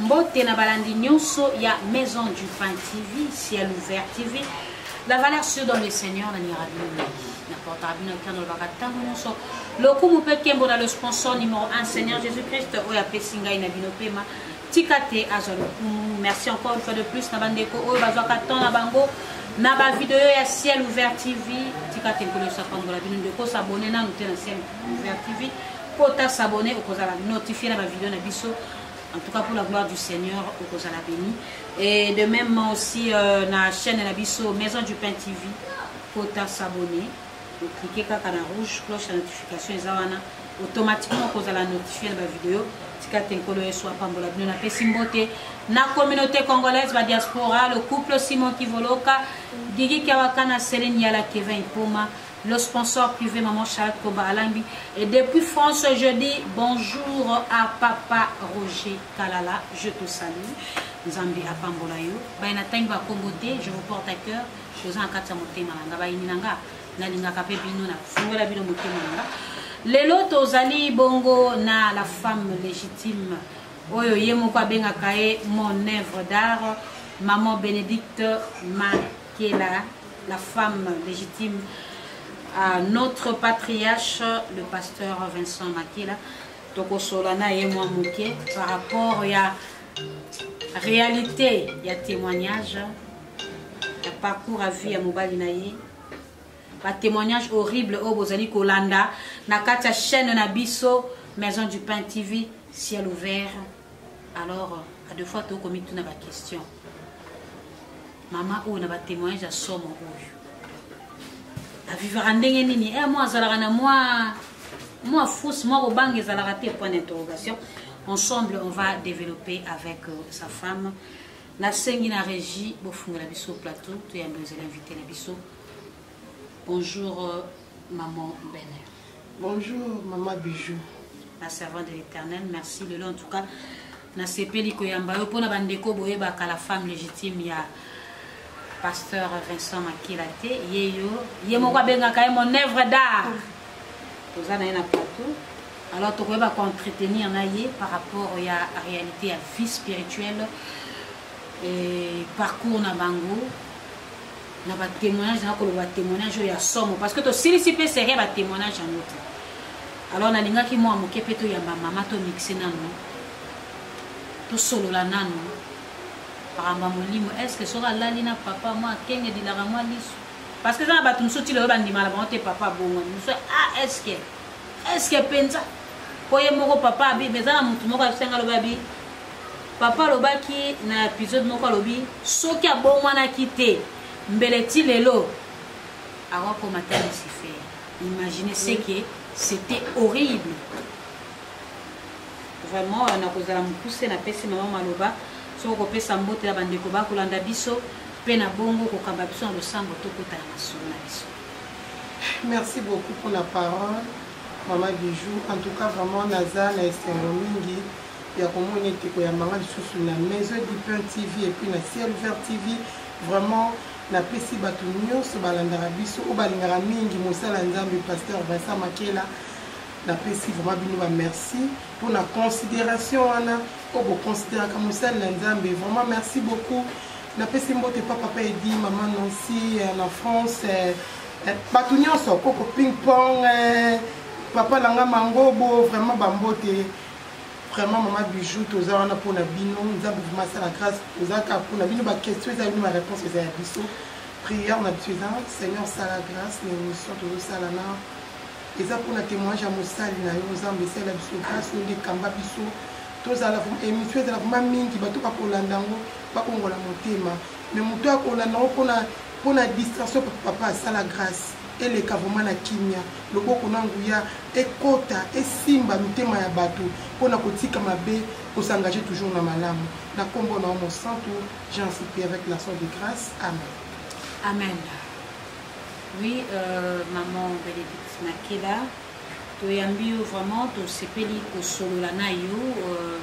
mbote na balandi nyonso ya maison du pain tv ciel ouvert tv la valeur sur dans le seigneur na nira bino mingi na portaka bino ata nalobaka ntango nyonso lokumu mpe nkembo na le sponsor numero 1 seigneur jésus christ oyo apesi ngai na bino mpema tika te azwa lokumu merci encore une fois de plus na bandeko oyo bazwaka temps na bango na bavideo ya ciel ouvert tv tika te nkolo yesu apambola bino nde kosabone nanu te na ciel ouvert tv mpo ta sabone okozala notifie na bavideo na biso en tout cas pour la gloire du seigneur okozala béni et de même aussi euh, na chaîne na biso maison du pain tv mpo ta sabone o cliquer kaka na rouge cloche ya notification eza wana automatiquement okozala notifie na bavideo tika te nkolo yesu apambola bino napesi mbote na communauté congolaise badiaspora le couple simon kivoloka gigi kiawakana selin yala kevin ipoma le sponsor privé maman charlotte koba alambi et depuis france je dis bonjour à papa roger kalala je te salue nzambe apambola yo baye natangi bakombo te je vous porte à cœur je oza na kati ya motema na nga bayini na nga nalingaka mpe bino nafungola bino motema na nga lelo tozali bongo na la femme légitime oyo ye moko abengaka ye mon œuvre d'art maman bénédicte makela la femme légitime à notre patriarche le pasteur vincent makela tokosola na ye mwa moke par rapport ya réalité ya témoignage ya parcours à vie ya mobali na ye batémoignage horrible oyo bozali kolanda na kati ya chaîne na biso maison du pain tv ciel ouvert alors à deux fois tokomituna baquestion mama oyo na batémoignage ya somo oyo avivaka ndenge nini e eh, mwa azalaka na mwa mwa fousse mwa kobanga ezalaka te point d'interrogation ensemble on va développer avec euh, sa femme nasengi na regie bofungela biso plateau toyambe ozali invité na biso bonjour euh, maman bener bonjour maman bijou la servante de l'éternel merci lelo en tout cas nasepeli koyamba yo mpona bandeko boyebaka la femme légitime ya pasteur vincent makila te ye yo ye moko abengaka ye mon œuvre d'art toza na ye na plateau alors tokoyeba koentretenir na ye par rapport ya réalité ya vie spirituelle et parcours na bango na batémoignage na koloba témoignage oyo ya somo parce que tosilisi mpe serie ya batémoignage yango te alors nalingaki mwa moke mpe toyamba mama tomixe nano tosolola nano makambo ya molimo estce soki alali na papa mwa akenge dilaka mwa liso parce que eza na bato mosusu ti lelo bandima na bango te papa abongwani mosusu a ah, eske eske mpenza mpo ye moko papa abi mais eza na motu moko asenga alobi abi papa alobaki na episode moko alobi soki abongwanaki te mbele ti lelo akokoma te lucifer imagine seke c'était horrible vraiment euh, nakozala mokuse napesi mama maloba soki kopesa mbote na bandeko bakolanda biso mpe na bongo kokamba biso na losambo tokota na masolo na biso merci beaucoup pour la parole mama bijou en tout cas vraiment naza na esengo mingi ya komona ete koyambanga lisusu na maison du pain tv epuis na ciel vert tv vraiment napesi bato nyonso balandaka biso oyo balingaka mingi mosala nzambe pasteur vincent makela napesi vraiment bino ba merci mpo na considération wana oyo boconsideraka mosali na nzambe vraiment merci beaucoup napesi mbote pa papa edi mama nancy euh, na france euh, euh, bato nyonso koko ping pong papa nanga mangobo vraiment bambote vraiment mama bijou toza wana mpo na bino nzambe vrima asala grâce toza kaka mpo na bino baquestion eza bino baréponse eza ya biso prière na biso eza seigneur sala grâce na émission tozosala na eza pona temoignage ya mosali na yo nzambe esala biso grâce yo nde kamba biso tozala émission ezala vrema mingi bato bakolanda yango bakongola motema mais moto ya kolanda yango mpona mpona distraction papa asala grâce eleka vrema na kimia loboko na nguya ekota esimba mitema ya bato mpona kotika mabe kosengage toujours na malamu na nkombo na yo mosantu jean sipi avec la son de grâce amen amen Oui, euh, maman Bénédicte Makeda, toyambi yo vraiment tosepeli kosolola na yo euh,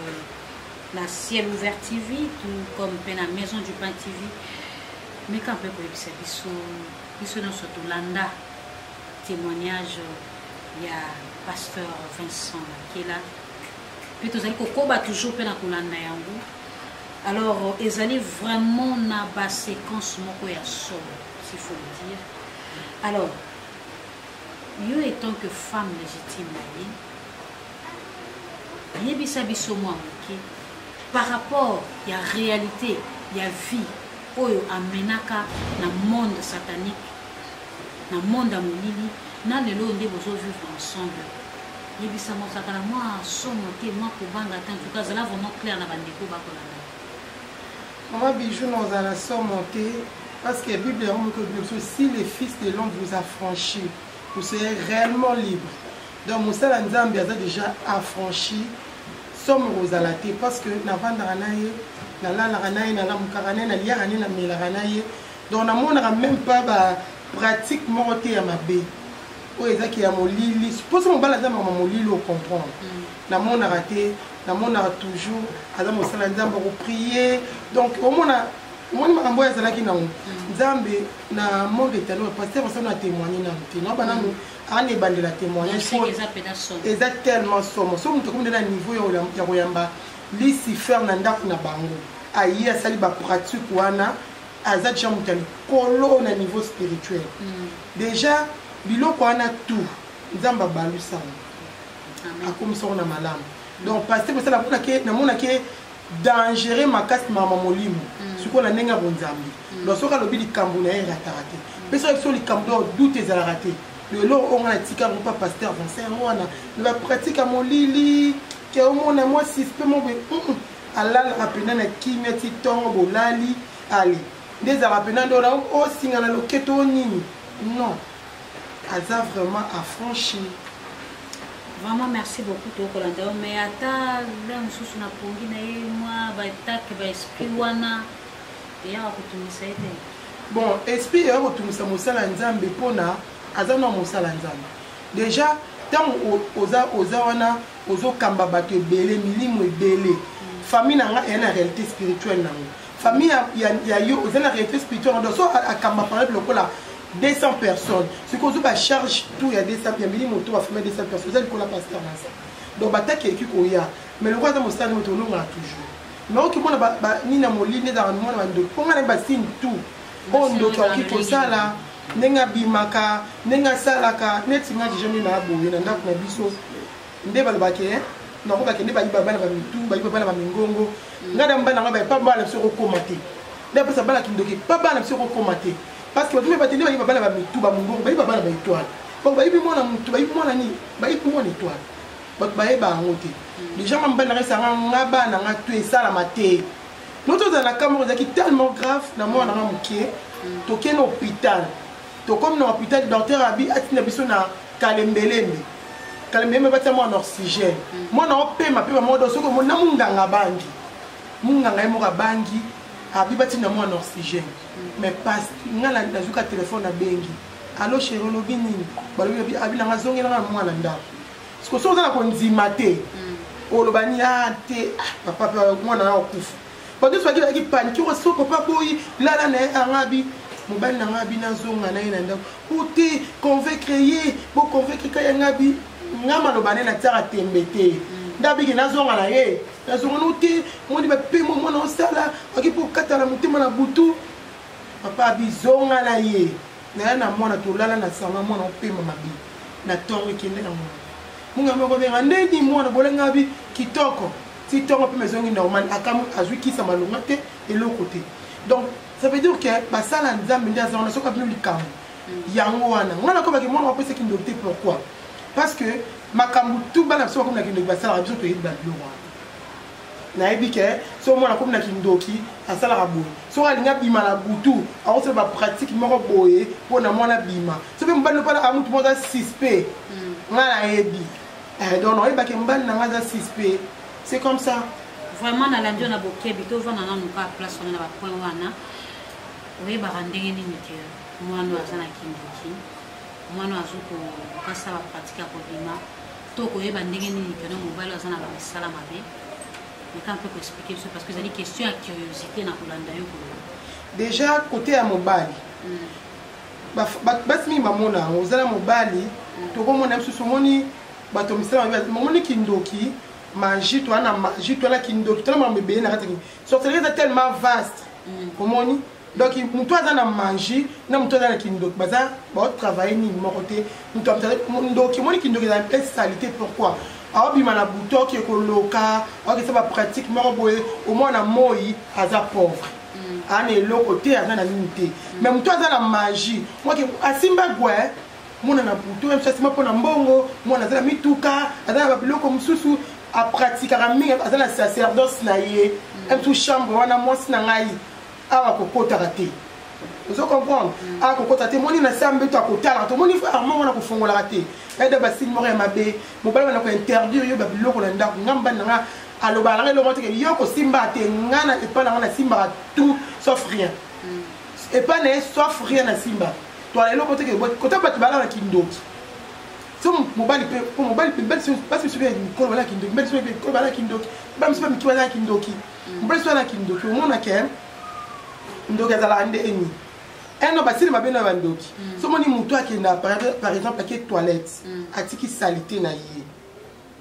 na ciel ouvert tv tout comme mpe na maison du pain tv meka mpe koyebisa biso biso nyonso tolanda témoignage ya pasteur vincent makela mpe tozali kokoba toujours mpe na kolanda yango alors ezali vraiment na baséquence moko ya solo s'il faut le dire alors yo étant que femme légitime na ye yebisa biso mwa moke par rapport ya réalité ya vie oyo amenaka na monde satanique na monde ya molili na lelo oyo nde bozovivre ensemble yebisa mozalaka na mwa somo te mwa kobanga te ntuka azala vraiment claire na bandeko bakolanda Maman Bijou na ozala na somo te parce que Bible yango moko elobi biso si le fils de l'homme vous affranchi vous serez réellement libre donc mosala nzambe aza déjà affranchi somo kozala te parce que navandaka na ye nalalaka na ye nalamukaka na ye naliaka ne namelaka na ye donc namonaka même pas ba pratique moko te ya mabe oyo ezaki ya molili mposo mobali aza mama molili ocomprendre mm. namonaka te namonaka toujours aza mosala ya nzambe akopriye donc omona omoni makambo oyo azalaki nango mm. nzambe na monde etano paster osali na témoigne nanu te noba nanu mm. ana ebandela témoignage eza tellement somo so moto akomidela niveau ya koyamba lisifer na ndako na bango aye asali bapratique wana aza deja moto ya likolo na niveau spirituel mm. deja biloko wana tout nzambe abalusango akomisa yango na malamu donc paster mosala amonake namonake dangereux makasi mama molimo mm. sikoyo na ndenge ya bonzambe mm. donc soki alobi likambo na ye erataka te mpe soki biso likambo donc doute ezalaka te lelo oyo nga natika yango mpa paster vincent yango wana me bapratika molili ke omona mwa sispe mo boye alalaka mpena na kimia ti ntongo bolali ale nde ezalaka mpena nde ola osingana loketo o nini non aza vraiment affranchi vraiment merci beaucoup tokolanda yo mais ata nde mosusu na pongi na ye mwa baetake baesprit wana eyaka kotungisa ye te bon esprit eyaka kotungisa mosala ya nzambe mpona aza na mosala ya nzambe déjà ntango oza oza wana ozokamba bato ebele milimo ebele famille na ngai eya na réalité spirituelle na yango famille ya, ya yo oza na réalité spirituel donc so akamba par exemple lokola 200 personnes soki ozwi bacharge tout ya 200 ya milimo to bafamille ya 200 personnes eza likola pasteur na sa donc bataki eleki koya mais lokola aza mosali moto olongaka toujours mais okimona nini ya molili ezalaka mimona bandoki mpo ngai na basine tout oyo ndoki akoki kosala ndenge abimaka ndenge asalaka neti ngai deja nde na aboye na ndako na biso nde balobaka ke nako bakende bayiba bana ba mitu bayiba bana ba mingongo mm. ngai na mbana ngai baye pa bana biso kokoma te ndapesa bana kindoki pa bana biso kokoma te parce que bato mpe batende bayiba bana ba mitu ba mongongo bayiba bana ba étoile donc bayibi mwana motu bayibi mwana nini bayibi mwana étoile bato bayeba yango te mm. déjà nga mobali nanga esanga nga bana nga to esalama te no tozala na kamoko ezalaki tellement grave na mwana nanga moke mm. tokende hôpital tokomi na hôpital docteur abi atinda biso na kalembelembe kalembelembe batia mwana oxygène mm. mwana opema pema moko do soki omoni na monganga abangi monganga ye moko abangi abi batinda mwana oxygène mm. mais pas nga nazuka telefone abengi alo sheri olobi nini balobi abi nanga azongelanga na mwana ndako sikoso oza na kondima te mm. oloba ni a ah, te ah, papa mwana na okufa bato nyonso bakelaki panike oyo soko mpe aboyi lala na ye angabi mobali na ngai abi nazonga na ye na ndako o te convaincre ye boconvaincre kai yanga abi ngai maloba ne natiaka tembe te nde abiki nazonga na ye nazonga no te moni bapemo mwana osala aki mpo okatala motema na butu papa abi zonga na ye naya na mwana tolala na sanga mwana opema mabe na ntongo ekende na mwana munga moko benga ndeni mwana bolenga abi kitoko ti tongo mpe mezongi normal akamu azwi kisa malonga te eloko te donc ça veut dire que basala nzambe nde aza wana soki abino likambo mm. yango wana ngai nakobaki mwana wapesa kindoki te pourquoi parce que makambo tu bana biso bakomi na kindoki basalaka biso toyebi babiloko wana nayebi ke so mwana akomi na kindoki asalaka boye soki alingi abima na butu akosala bapratike moko boye mpo na mwana abima soki mobali opala amutu moko aza suspect mm. ngai nayebi eh, donc oyebake mobali na ngai aza suspect c'est comme ça vraiment nalandi yo na bokebi tovanda nanu kaka place wana na bapoint wana oyebaka ndenge nini ke mwana aza na kindiki mwana azo kokasa bapratike ya kobima to koyeba ndenge nini pena mobali aza na bamisala mabe meka mpe koexplike biso parce que ezali question ya curiosité na kolanda yo koloba déjà kote ya mobali mm. basi mingi bamona yango oza na mobali tokomona mosusu omoni bato misala mabe omoni kindoki maji toa na maji toa na kindoki tona makambo ebele na kati sorcellerie eza tellement vaste mm. omoni donc moto aza na maji na moto aza na kindoki baza baotravaille nini moko te moto ndoki omoni kindoki eza mpe salite pourquoi aobima na butoki ekoloka aokesa bapratique moko boye omwana moi aza pauvre aza na eloko te aza na nini te mais moto aza na magie mwake asimba gwe mwana na putu ye mosu asimba mpo na mbongo mwana aza na mituka aza na babiloko mosusu apratikaka mingi aza na sacerdoce na ye mtu chambre wana mwasi na ngai awa kokotaka te ozo comprendre mm. akokota te moni na se ambeto akotala tomoni armand wana kofongolaka te eda basili moko ya mabe mobali wana kointerdire yo babiloko na ndako nga mbani na nga aloba nanga elongo teke yo kosimbaka te ngai na epai nanga nasimbaka tout sauf rien mm. epai na ye sauf rien nasimbaka toala eloko teke kota bato balala kindoki so mobali mpe mpo mobali mpe basi misusu mpe mikolo balala kindoki mibali misusu mpe mikolo balala kindoki ba misusu mpe miki balala kindoki mm. mobali misusu alala kindoki omona ke ndoki azalaka nde eni eno basili mabe na bandoki mm. so moni motu akenda par exemple ake toilette mm. atiki salite na ye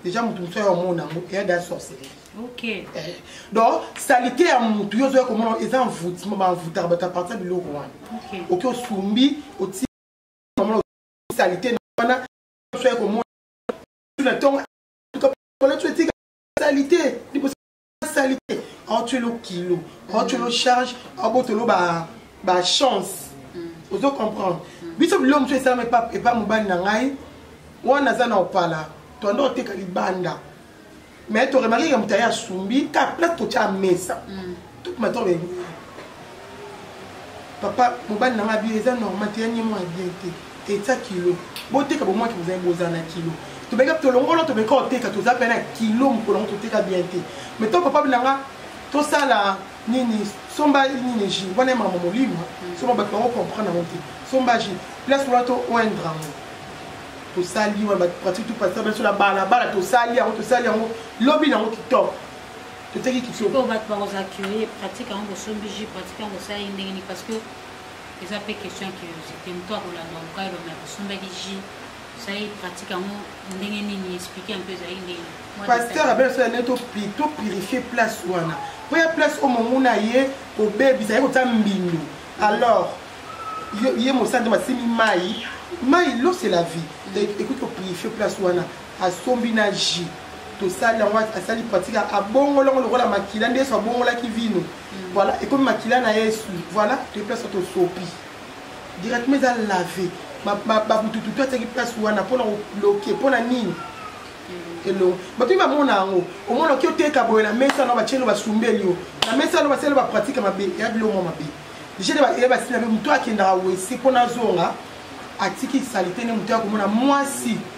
deja moto mosusu aya omona yango eya da sorcellerie okay. eh. donc salite ya motu yo ozoya komona eza envoutement baenvoutaka bato ya parti ya biloko wana okay. oki osumbi oti salite wana oya komona na ntongo salite asali te aotwelo kilo aotwelo charge aobotolo bachance ozo comprendre biso biloko mosusu esalama epa mobali na ngai wana aza na opala toanda oteka libanda mais toremarkeke moto aye asumbi ka place totya mesa mm. tout matin papa mobali na ngai abio eza normal te yanye mwana bien te etya kilo boteka bomwaki bozali bozala na kilo tobeka tolongolo tobeka koteka toza mpe na kilo mokolo yango toteka bien te mai to papa na ngai tosala nini somba nini ji wana ye mama molimo soma bato bango comprendre yango te somba ji place wana to oindre yango tosali wana bato pratique topasisa biso na balabala tosali yango tosali yango lobi na yango kitoko eteki kitoko bato bakozala curieux pratique yango bosombi jus pratique yango bosala ye ndenge nini parce que eza mpe question ya curiosité moto akolanda mokai elombe ya bosombaki jus osali pratique yango ndenge nini explike mpe ezali ndenge pasteur abeso ya nde to purifie place wana mpo ya place oyo momuna ye kobebisa ye kotya mbindo alors ye mosandi masimi mai mai l'eau c'est la vie mm. ekoki kopurifie place wana asombi na jus tosali yango asali pratique abongoli yango lokola makila nde yesu abongolaki vino mm. voilà ekomi makila na yesu voilà toye place tosopi directement eza lave babututu to atiaki place wana mpona kobloke mpona nini mm. elongo bato bamona yango omona oki oteka boye na mesa no batielo basumbeli yo na mesa no basali bapratique mabe eya bilongo mabe deja eya basina mpe moto akendaka wese mpo nazonga atiki salite nde moto ya komona mwasi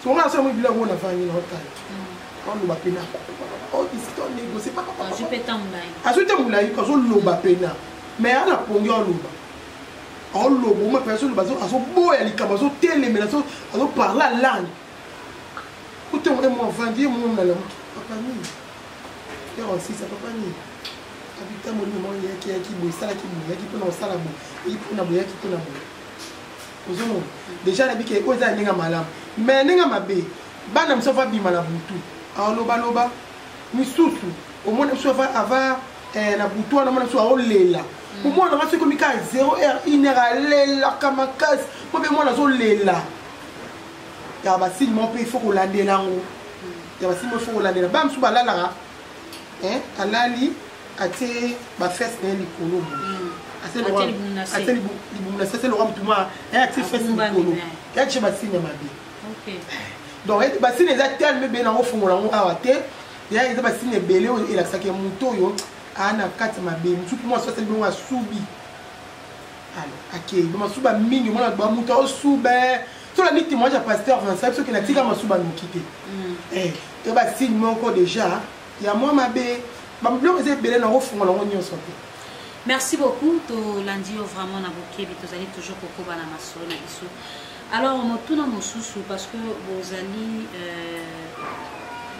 Somo na somo bila mona vangi na otala. Kando ba pena. Oh, ici ton ego, c'est pas papa. Azu peta mulayi. Azu te mulayi, kazo loba pena. Mais ana pongi o loba. O lobo ma pesa loba zo azo boya likaba zo telemela zo azo parla langue. Kote mo mo vangi mo na la papa ni. Ya aussi ça papa ni. Abita mo ni mo yaki yaki bo sala ki bo yaki pona osala bo. Ipona bo yaki pona bo. ozomona deja nayebi ke oyo eza na ndenge ya malamu me na ndenge ya mabe bana mosusu ava bima na butu alobaloba misusu omona biso ava eh, na butu wana mona biso aolela mm. omwana nanga soki komi kaka 0 heure 1 heure alelaka makasi mpo mpe mwana azolela ya basili mo mpe ifo kolandela yango mm. ya basili mo ifo kolandela bana mosusu balalaka alali atie bafese na ye likolo atie libumu na sese loka motu ma ye atie fese likolo ye atie basine mabe donc basine eza telme be nango ofungola yango awa te ya eza basine ebele oyo elakisaka moto oyo aa na kati mabe mosusu mpo mwasi asali bongo asubi akei bamasuba mingi omona bamoto aosuba tolandi témoignage ya pasteur vincent biso kena tika masuba noki te mm. eh, to basigne moko déjà ya mwa mabe babiloko eza ebele nango ofungola yango nyonso te merci beaucoup tolandi yo vraiment na bokebi tozali toujours kokoba na masolo na biso alors motuna mosusu parce que bozali euh,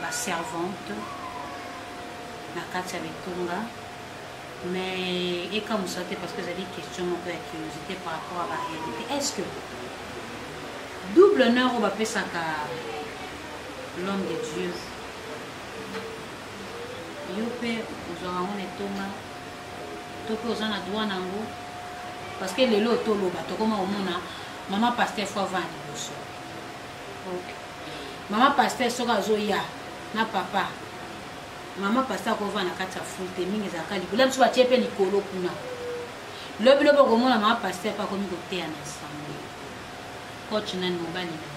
baservante na kati ya bitunga mais ekamusa te parce que ezali question moko ya curiosité par rapport à baréalité est ce que double honneur oyo bapesaka l'homme de dieu yo mpe ozwaka yango na etonga to mpe oza na droit na yango parce que lelo oyo toloba tokoma komona mama paster fo avanda liboso mama paster soki azoya na papa mama paster akova na kati ya ful te mingi ezalaka likolo biso batie mpe likolo kuna lobilobi okomona mama paster mpe akomi koteya na nsango coach nani mobali na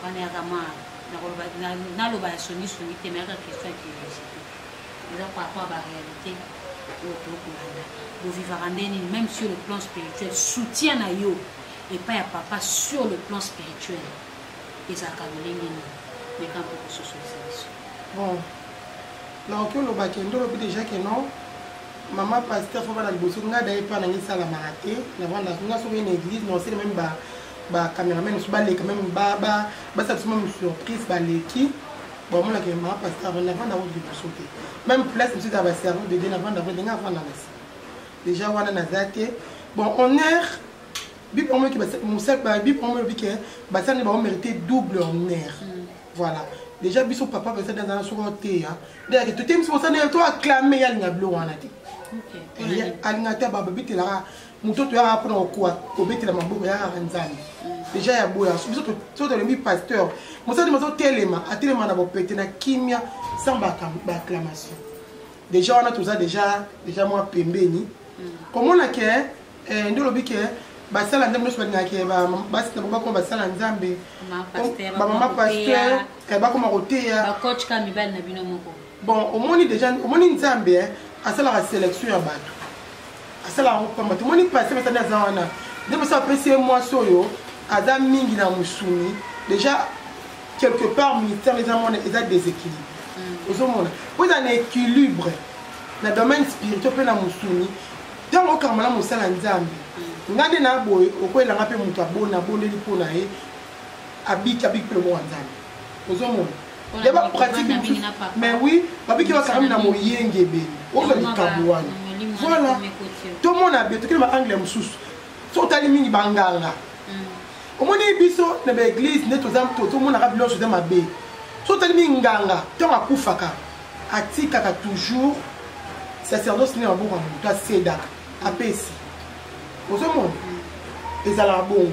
wana ya kama nakoloba naloba ya songi songi te mais yaka question ya curiosité eza par rapport à ba réalité oyo tokolanda bovivaka nde nini même sur le plan spirituel soutien na yo epai ya papa sur le plan spirituel ezalaka lolenge nini meka mpe kososolisa biso bon nakoki oloba kende olobi déjà ke non mama pasteur fo bana liboso ngai daye mpa nange esalamaka te navanda nga soki na église na osele meme ba ba cameraman mosusu baleka meme basala biso meme surprise baleki bamonaka ye maa pasteur avanda avanda yango liboso te meme place mosusu ya baservo de bien avanda avanda ndenge avanda na sima déjà wana naza te bon on air bible yango moyoki bible yango elobi ke basala nde bango mérité double honneur mm. voilà déjà biso papa pesa nde azala soko oteya nde yake totemisi mosala nde to acclame ye alinga bilo wana te alinga te bababitelaka moto toyaka mpona kokoa kobetela maboko yakaka nzambe deja ya boya biso so tolembi pasteur mosali mazotelema atelema na bopete na kimia sans baacclamation deja wana toza deja deja mwa pembeni komona ke eh, nde olobi ke basala nzambe nyonso balingaka ke basi na bango bakoma basala nzambe bamama pasteur bakoma koteya bon omoni deja omoni nzambe eh, asalaka selection ya bato asalaka yango pamba te omoni pase basani aza wana nde mosi apesi ye mwasi oyo aza mingi na mosuni deja quelque part ministère eza mwana eza déséquilibre mm. ozomona mpo eza na équilibre na domaine spirituel mpe na mosuni ntango okanga malamu osala nzambe mm. ngai nde na boye okoyelanga mpe moto abona abondeli mpo na ye abiki abiki mpe lokola nzambe ozomona ya ba pratique mais oui babiki basakami na moyengebeli oza likambo wana voilà tomona be tokende baangle mosusu so otali mingi banganga mm. omoni biso na baeglise nde tomonaka bilonso eza mabe so otali mingi nganga ntango akufaka atikaka toujours sacerdoce nde maboko ya moto asedaka apesi ozomona mm. ezalaka bongo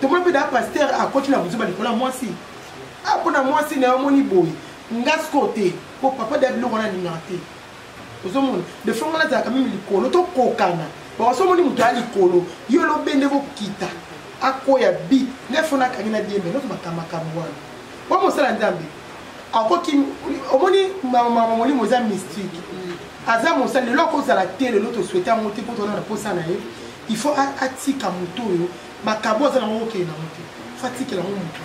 tomoni mpe da paster akoti na buzoba likolo ya mwasi a ah, mpo na mwasi na yo omoni boye nga sikoyo te mpo papa da biloko wana alingaka te ozomona defo nga nazalaka meme likolo tokokana bakoso omoni moto ya likolo yo lobe nde kokita akoya bi nde fo nakangi na diembe noto bakamakambo wana po mosala nzambe akoki omoni mama molimo eza mystique aza mosala lelo akozala te lelo toswete yango te mpo tona na mposa na ye il faut atika moto oyo makambo aza nango okende nango te fatikela yango motu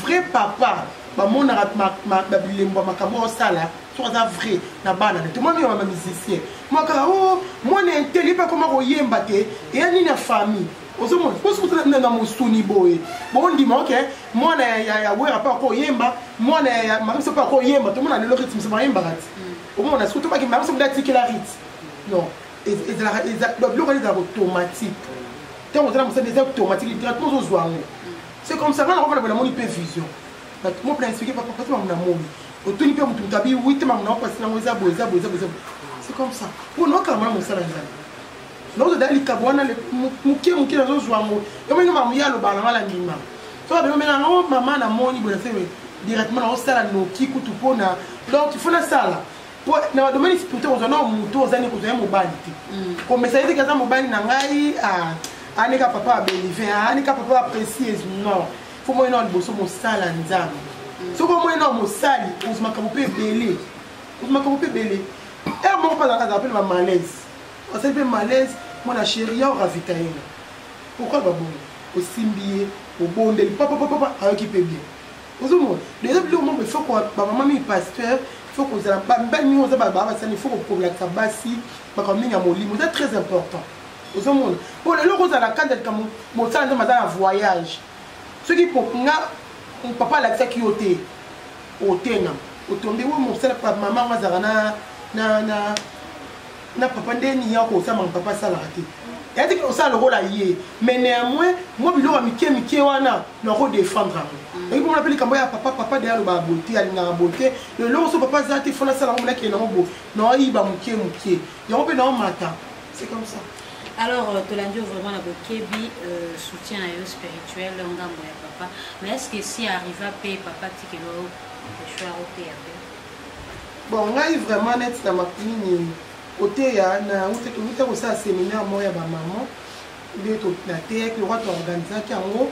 vrai papa bamonaka bilembo ya makambo osala soki aza vrai na bana na te mwana oyo bama musicien mwakaka o oh, mwana inteli mpe akoma koyemba te eya nini ya famille ozomona mposi kotala na mosuni boye bondima oke mwana ya wera mpe akoyemba mwana ya mamiso mpe akoyemba tomona lelo ritme so bayembaka ti omona soki tobaki mamiso mpe atikela ritme non ezalaka biloko wana ezalaka automatique ntango ozala mosali eza automatique directement ozozwa yango c'est comme ça nga nakofana boye namoni mpe vision bato mo plan expliqué papa pasi mamu namoni otuni mpe motu moto abi wi te mamu nango pasi nango eza boye eza boye eza boye c'est comme ça mpo naokala mwana mosala nzambe naozodala likabo wana moke moke nazozwa yango yomoinga mamu ye aloba nanga na ndima so babengomela yango mama namoni boye nasee directement naosala noki kutu mpona donc il faut nasala po na ba domaine spirituel kozwa nao moto oza ne kozwa ye mobali te mm. komesa ye teke aza mobali na ngai ah, anika papa ya belive ah, anika papa ya précise non fo moye nao liboso mosala nzambe mm. soki omoye nao mosali ozwa makambo mpe ebele ozwa makambo mpe ebele ere moko mpe azalaka mpe na bamalaise asali mpe malaise mwana sheri ya oravita ye nga pourkoi babongo osimbi ye obondeli papapapapa ayoki mpe bien ozomona deja biloko moko ifo bamama mingi pasteur ifo kozala bamibali mingi oza baa basani ifo kokolakisa basi makambo mingi ya molimo eza très important ozomona mpo lelo kozala na kati ya likambo mosala nzambe aza na voyage soki nga papa alakisaki yo te otengama otombi we mosala mama yango azalaka na na papa nde nini yako osamaka papa asalaka te yati kino osala lokola ye mais néanmoins mwa biloko ya mike mike wana nako défendre yango mm. oyebi mona mpe likambo ya papa papa de alobaka boye te alingaka boye te eloko so papa aza te fona asala yango monakele nango boye naoyiba moke moke yango mpe naomata c'est comme ça alors euh, tolandi vraiment na bokebi euh, soutien na yo spirituel ngambo ya papa mais est ce que si arriva mpe papa tikelo echoi aoteya mpe Bon, ngai vraiment net na makunini koteya na uta kosala seminaire moko ya bamama nde nateyaki lokwa to organisaki yango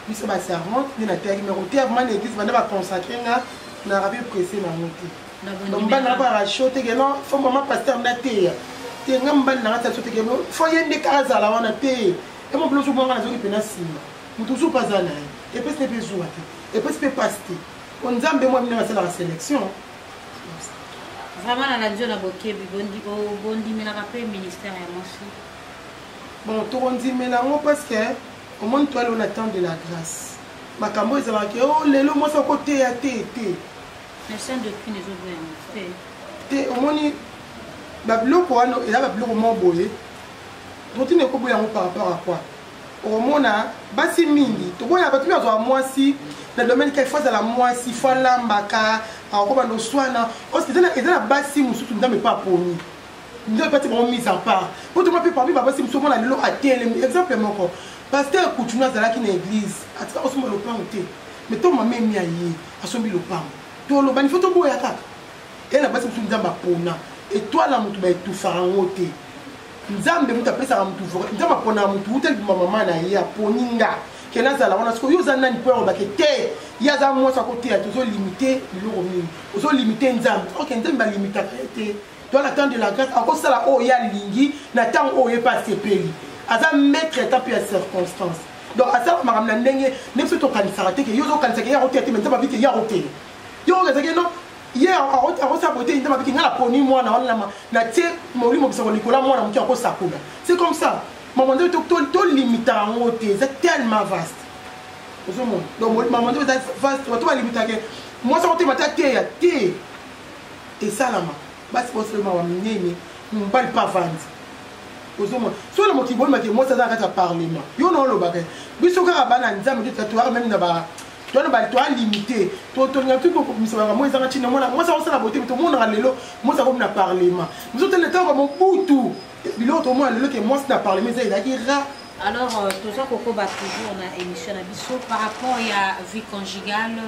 biso baservante nde nateyaki me koteya vraiment na église banda baconsacre nga na rabi presse na yango te mobali nanga barasio teke no fo mama paster nateya te nga mobali nanga tasio teke fo ye nde kaka azala wana te emobilo ozobwanga nazoki mpe na nsima moto ozupa aza na ye epesi te mpe zuwa te epesi mpe pasi te o nzambe mwa bino basalaka selection vraiment na radio na bokebi bondimelaka mpe ministère ya mwasi bon tokondimela yango parce que omoni toyali ona temps de la grâce makambo ezalaka ke o oh, lelo mwasi akoteya te te te omoni babiloko wana eza babiloko moko boye totini ekoboya yango par rapport à quoi okomona basi mingi toboya bato mpe azwa mwasi na domaine kaka fo azala mwasi fo alambaka akokoma noswana eza na basi mosusu nzambe mpe aponi nzambe mpe ati bango mise en part mpo toma mpe parmi babasi mosusu omona lelo atelemi exemple moko paster kutuna azalaki na église atika kosomba lopango te me to mama emi aye asombi lopango tolobani fo toboya kaka eye na basi mosusu nzambe apona etwala moto baetufaka yango te nzambe moto apesaka motu voka nzambe aponaka motu uta libuma mama na ye aponi nga ke nazala wana sikoyo yo oza nani mpo yalobake te ye aza mwasi akoteya te ozolimite biloko mingi ozolimite nzambe ok nzambe alimitaka ye te to na temps de la grâce akosala oyo ye alingi na ntango oyo ye mpe asepeli aza maître ata mpe ya circonstance donc asala makambo na ndenge nde biso tokanisaka te ke yo ozokanisaka ye akoteya te me nzambe abike ye akoteya yo oyo ezaki no ye akosala bote nde mabiki ngai naponi mwana wana natie molimo bisako likola mwana moke akosakola c'est comme ça mama nde tolimita yango te eza tellement vaste ozomona donc mama nde eza vaste bato balimitaka mwasi akotema te ateya te esalama basi bosolema wa minene mobali mpe avandi ozomona soki na mokili boyemake mwasi aza na kati ya parlement yo na olobaka biso kaka bana nzambe nde tatoyaka meme na ba twana bato to alimite totolinga tu kokomisa makambo ezanga ntina mwana mwasi akosala bote tomonaka lelo mwasi akomi na parlement biso tele ntango bamobutu biloko tomona lelo ke mwasi na parlement eza ezalaki ra alors euh, toza kokoba toujours na émission na biso par rapport ya vie conjugale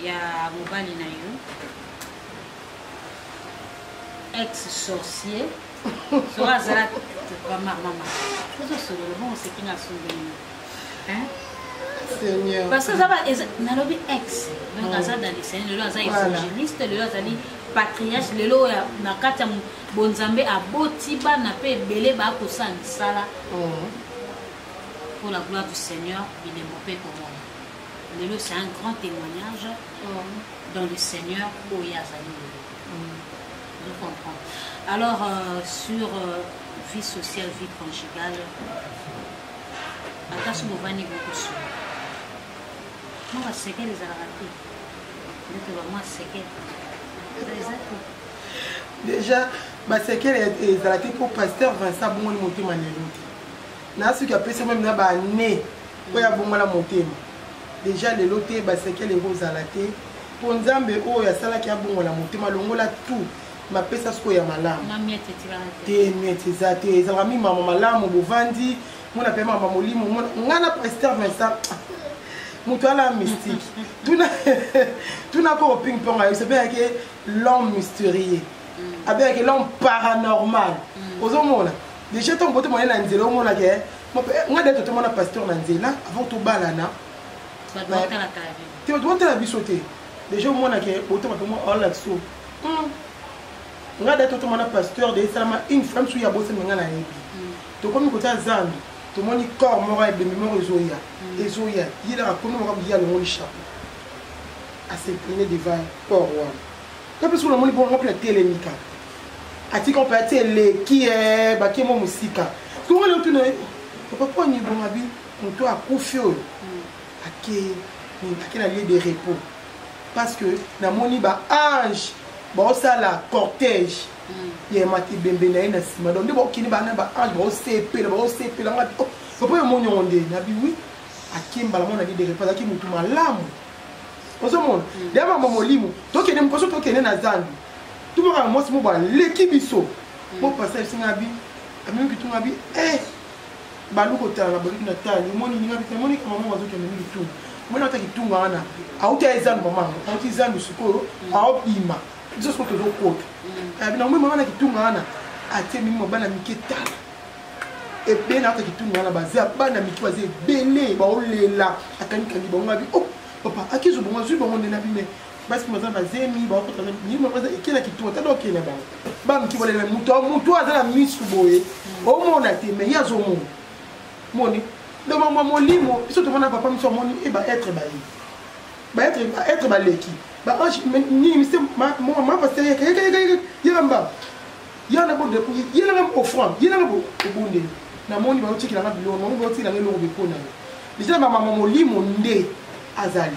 ya mobali na yo ex sorcier soki azala bamamama tozosolola bongo oseki nga asundeli parce que aza nalobi ex donc mm. aza dalisani lelo aza évangéliste lelo azali patriarche lelo oyo na kati ya bonzambe aboti bana mpe ebele bakosala misala mm. pour la gloire du seigneur bilembo mpe komona lelo c'est un grand témoignage mm. dans le seigneur oyo azali lelo Je comprends. Alors, euh, sur euh, vie sociale, vie conjugale, ata soki bovandi bokosuka mwa basekele ezalaka te ndeke bamwa sekele eza te déjà basekele ezala te mpo pasteur vincent abongoli motema lelo te na soki apesi meme na bane oyo abongola motema déjà lelo te basekele ekozala te mpo nzambe oyo asalaki abongola motema longola tout mapesa sikoyo ya malamu te miete eza te ezalaka mi mama malamu bovandi mona mpe mama molimo ngai na prester vincent moto ala mystique tuna koko ping pong ayebisa mpe yake l'homme mystérieux mm. abeyake l'homme paranormal mm. ozomona déjà ntango bote moye na nzela omonaka eh, ngai de totomona pasteur na nzela avant tobalana te bato botala biso te deja omona ke botama mpe mwa olakso hmm. nga da totoma na pasteur de esalama une femme soki abosami nga nayebi hmm. tokomi kota zando tomoni corps moko ya ebembe moko ezoya hmm. ezoya yelaka komi moko biye alongoli chapeau aseplene devant corps wana nga mpe soki namoni bongo nga mpe natelemika atika mpe ati eleki e bakie mwa mosika soki nga leo tuna papa mpo anibongabi moto akufi oyo ake nini ake na lieu de repos parce que namoni ba ange baosala cortège mm. ya mati ebembe na ye na nsima donc nde bakokende bana ba ange baosepela baosepela nga oh, papa yo moni yango nde nabi wi ake mbala mona lieu de repos azalaki motu malamu ozomona mm. deya mama molimo tokende mokoso tokende na zambi tumaka na mwasi moko baleki biso bo mm. pasage singabi amemi kitungabi eh balu kotala na baluki na tali omoni ninga bita moni ka mama wazo kende mingi tunga mwana ata kitunga wana auti aye zandu mama yango auti zandu sikoyo mm. aobima biso sikoyo tozokota mm. na omoi mama na kitunga wana atie mimi mwa bana mike tala ebele na ata kitunga wana baza bana mike baza ebele baolela akanikangi bango abi o oh, papa akizo bongo azwi bango nde na bime basi baza bazemi bakokota nima baza ekela kituo ata dokende bango bamiki bolela moto moto aza na misu boye hmm. omona te mai ye azomona moni donc bamwa molimo biso tomona papa miso amoni e baetre baye baetre baetre baleki baange nini mise mama pasteur yeka mbaba yana bo yelanga offrande yelanga obondeli namoni baotikilanga biloko bango baotikilanga eloko bepona yo deja bamama molimo nde azali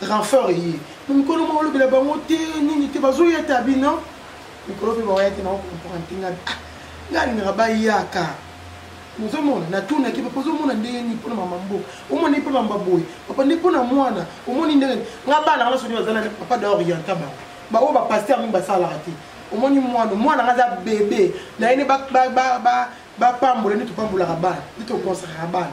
renfort eye na mikolo moko olobela bango te nini te bazoya te abi non mikolo mpe baoya te naokomprendre te ngai ah, ngai alingaka bayaka ozomona natunaki papa ozomona ndenge nini mpona mama mbo omoni mpe mamba boye papa nde mpona mwana omoni ndenge nga bana nga soki baza na papa da orienta bango baoyo bapaster mingi basalaka te omoni mwana mwana nga aza bebe naye nde bapambola nde topambolaka bana nde tokonsakaka bana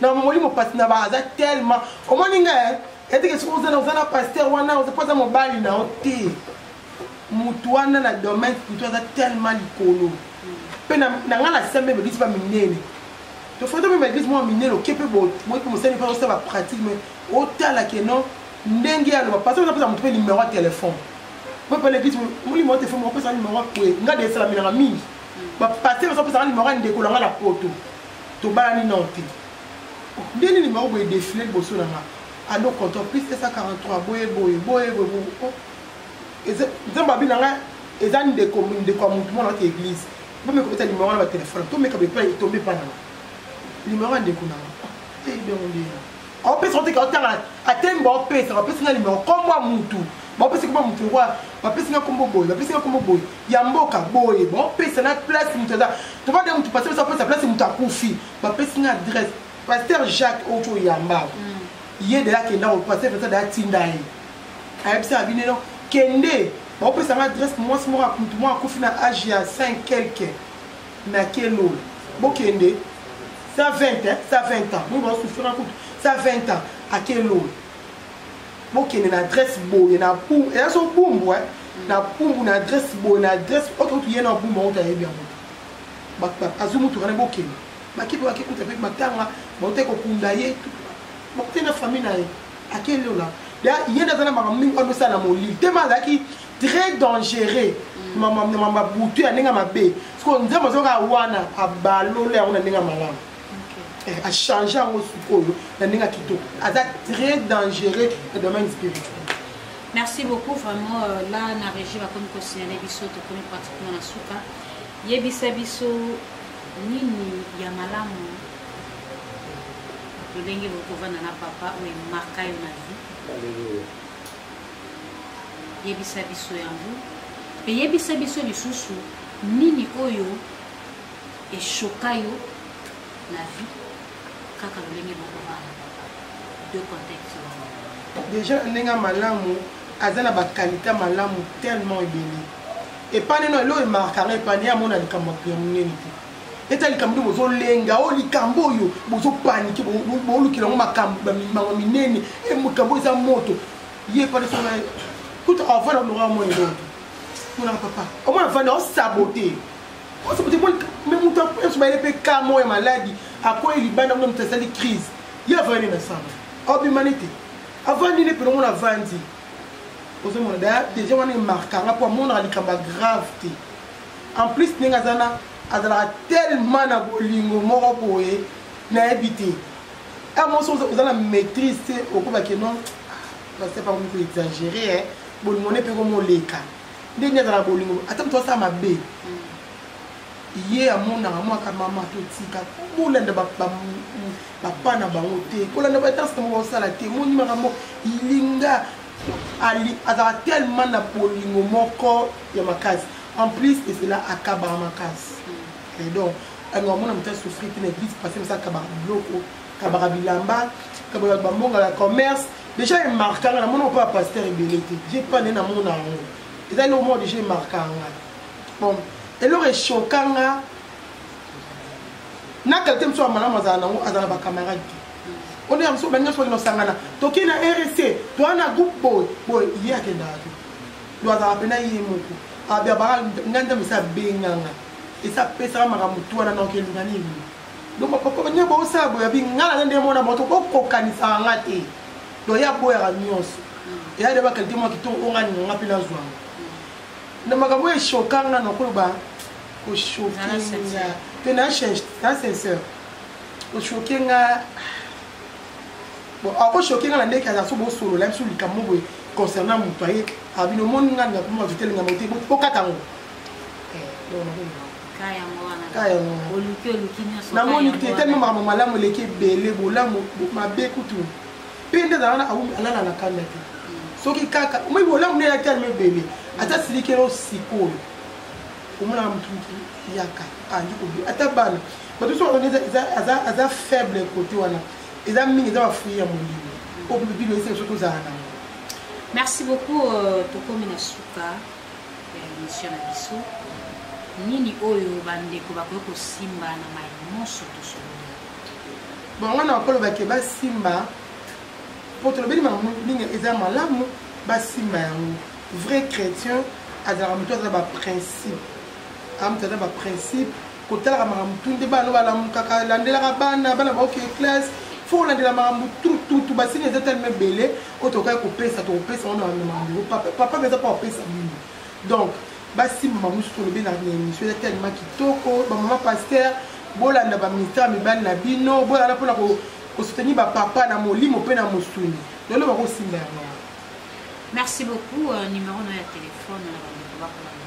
na molimo pasi na ba aza tellement omoni nga eh? eteke soki ozana oza na paster wana oza mpo aza mobali na yo te motu wana na domaine kutu aza tellement likolo mpe na ngai na sembe baeglise ba minene tofanda mpe baeglise mwa minene oke mpe boye mpe mosali mpe osala bapratique mai otala keno ndenge ya loba parce oza pesa motu mpe numero ya telefone mpo mpe leglise molimo ya telefone opesa numero ya kwe ngai de esalamelaka mingi bapase baza pesaka numero ya ndeko na ngai na poto tobalani nao te nde nini bango boye defile liboso na nga ado control plus 143 boye boye boye boye oh. nzambe abi na nga eza ndeko ndeko ya motu mwana wata eglise bomeka kobeta limero wana batelefone tomeka bepa etombe epa na nga limero ya ndeko na nga ah, eyebyango ndeya opesa oteke otanga atemi baopesa bapesi nga limero nkombo ya mutu bapesi nkombo ya mutu lokola bapesi nga nkombo boye bapesi nga nkombo boye ya mboka boye baopesa na place mutu aza tobanda mutu pasi biso apesa place mutu akufi bapesi nga adresse paster jacques oco yamba mm. ye deya akenda ko paster pesa deya tinda ye ayebisa ya bineno kende baopesa nga adresse mwasi moko mutu moko akufi na age ya 5 quelque na kelolo bokende sa 20 hein? sa 20 ans bongo basufraka kutu sa 20 ans akelolo bokende na adresse boye na pumbu eza so pumbu hein? na pumbu na adresse boye na adresse oke kutu ye na pumbu yango tayebi yango azwi motuka na bokende bakipe bakekuta mpe matanga baute kokunda ye bakute na famille na ye akelolo ye nde aza na makambo mingi oyo amesala na molili te ma azalaki très dangereux mama butu ya ndenge mabe siko nzambe azoka wana abalole yango na ndenge malamu eh, achange yango sikoyo na ndenge kitoko aza très dangereux na domaine spirituel merci beaucoup vraiment euh, là na régie bakomi kosignale biso tokomi pratiquement na suka yebisa biso nini ya malamu lolenge bokovanda na papa oyo emarka yo na vie yebisa biso yango mpe yebisa biso lisusu nini oyo eshoka yo na vie kaka lolenge bokobana de contexte déjà na ndenge ya malamu aza na bakalite malamu tellement ebele epai neno eloo emarkaka epai ne amona likambo ya monene te eza likambo nde bozolenga o oh, likambo oyo bozopanike bolukela yango makambo bamimango minene e makambo eza moto ye padesoa kuta avanda olonga mwana elongo monaka papa omwana avanda osabote osabote me moto nyonso bayele mpe ka moko ya maladi akwei libanda mona moto asali crise ye avandi na samba obimani te avandi nde mpena omona avandi ozomona da deja wana emarkanga mpo amonaka likambo ya grave te en plus ndenge aza na azalaka tellement na bolingo moko boye nayebi te a mosi oza na maîtrise te okobake non basepa ah, komiko exagere bolingo ne mpe komoleka nde nde azala bolingo ata moto asala mabe ye amonaka mwaka mama totika bolanda bapa na bango te kolanda badanse na moko basala te moni makambo ilinga azalaka tellement na bolingo moko ya makasi en plus ezela akabaka makasi et donc alors omona moto asouffri te na église passé mosa akabaka biloko akabaka bilamba akabaka bambonga ya commerce déjà emarkanga na mona mpo ya pasteur ebele te je pas nde namona yango eza eloko moko déjà emarkanga ngai bon eloko eshoka nga na kalite mosusu ya malamu azala nango aza na bacamarade te oyo ya mosusu baninga soki nosangana tokei na rc toa na groupe boye boye ye akendaka te do azalaka mpe na ye moko abiabaka ngai nzambe esi abenganga esi apesaka makambo tu wana naoki eluka nini donc bapapa nde bosala boya bi ngai naza nde mwana moto bokokanisaka nga te donc ye aboyaka nyonso eya de bakalite mwa kitoko oyo ngai ninganga mpe nazwanga na makambo oyo eshoka nga nakoloba koshoke nga mpe na sincere koshoke nga bon ako choquer nga na ndeke aza so bo solo la biso likambo boye concernant moto aye abino ah, moni nga na kuma vitele nga mote bokata ngo namoni te teme makambo malamu eleki ebele bolamu mabe kutu mpe nde azala alala na kanda te mm. soki kaka moi bolamu nde elaki alima ebele ata silikelo sikoyo omonaka motu yaka andi ah, kobe ata bana bato so bakoni aza faible kote wana eza mingi eza bafui ya molimo oyo mpe bino ese biso tozala nango merci beaucoup euh, tokomi na suka ya émission na biso nini oyo bandeko bakoki kosimba na mai nyonso tosololi bon wana bakolobake basimba mpo tolobeli makambo mingi eza malamu basimba yango vrai chrétien azalaka moto aza baprincipe amoto aza baprincipe kotalaka makambo tu nde bana no balamukaka landelaka bana bana baoke classe fo kolandela makambo tututu basini eza telema ebele oyo tokaki kopesa tokopesa wana makambo papa mpe eza mpo kopesa bino donc basimba mamusu tolobi na émission eza telema kitoko bamama paster bolanda baministère ya mibali na bino bolanda mpona kosoutenir bapapa na molimo mpe na mosuni lelo bakosimba yango merci beaucoup euh, numero na ya telefone na euh, bandeko bakolanda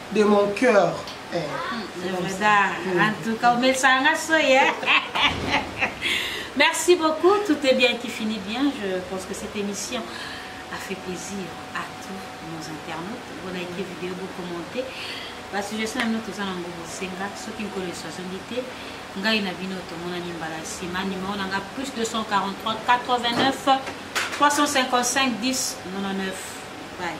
de mon cœur eh, c'est vrai da en tout cas omesanga soye merci beaucoup tout est bien qui finit bien je pense que cette émission a fait plaisir à tous nos internautes bolike video bokommente basuggestion na bino toza nango bosenga soki nkolo eswazongi te ngai na bino tomonani mbala nsima nimero na nga plus 243 89 355 10 99 bye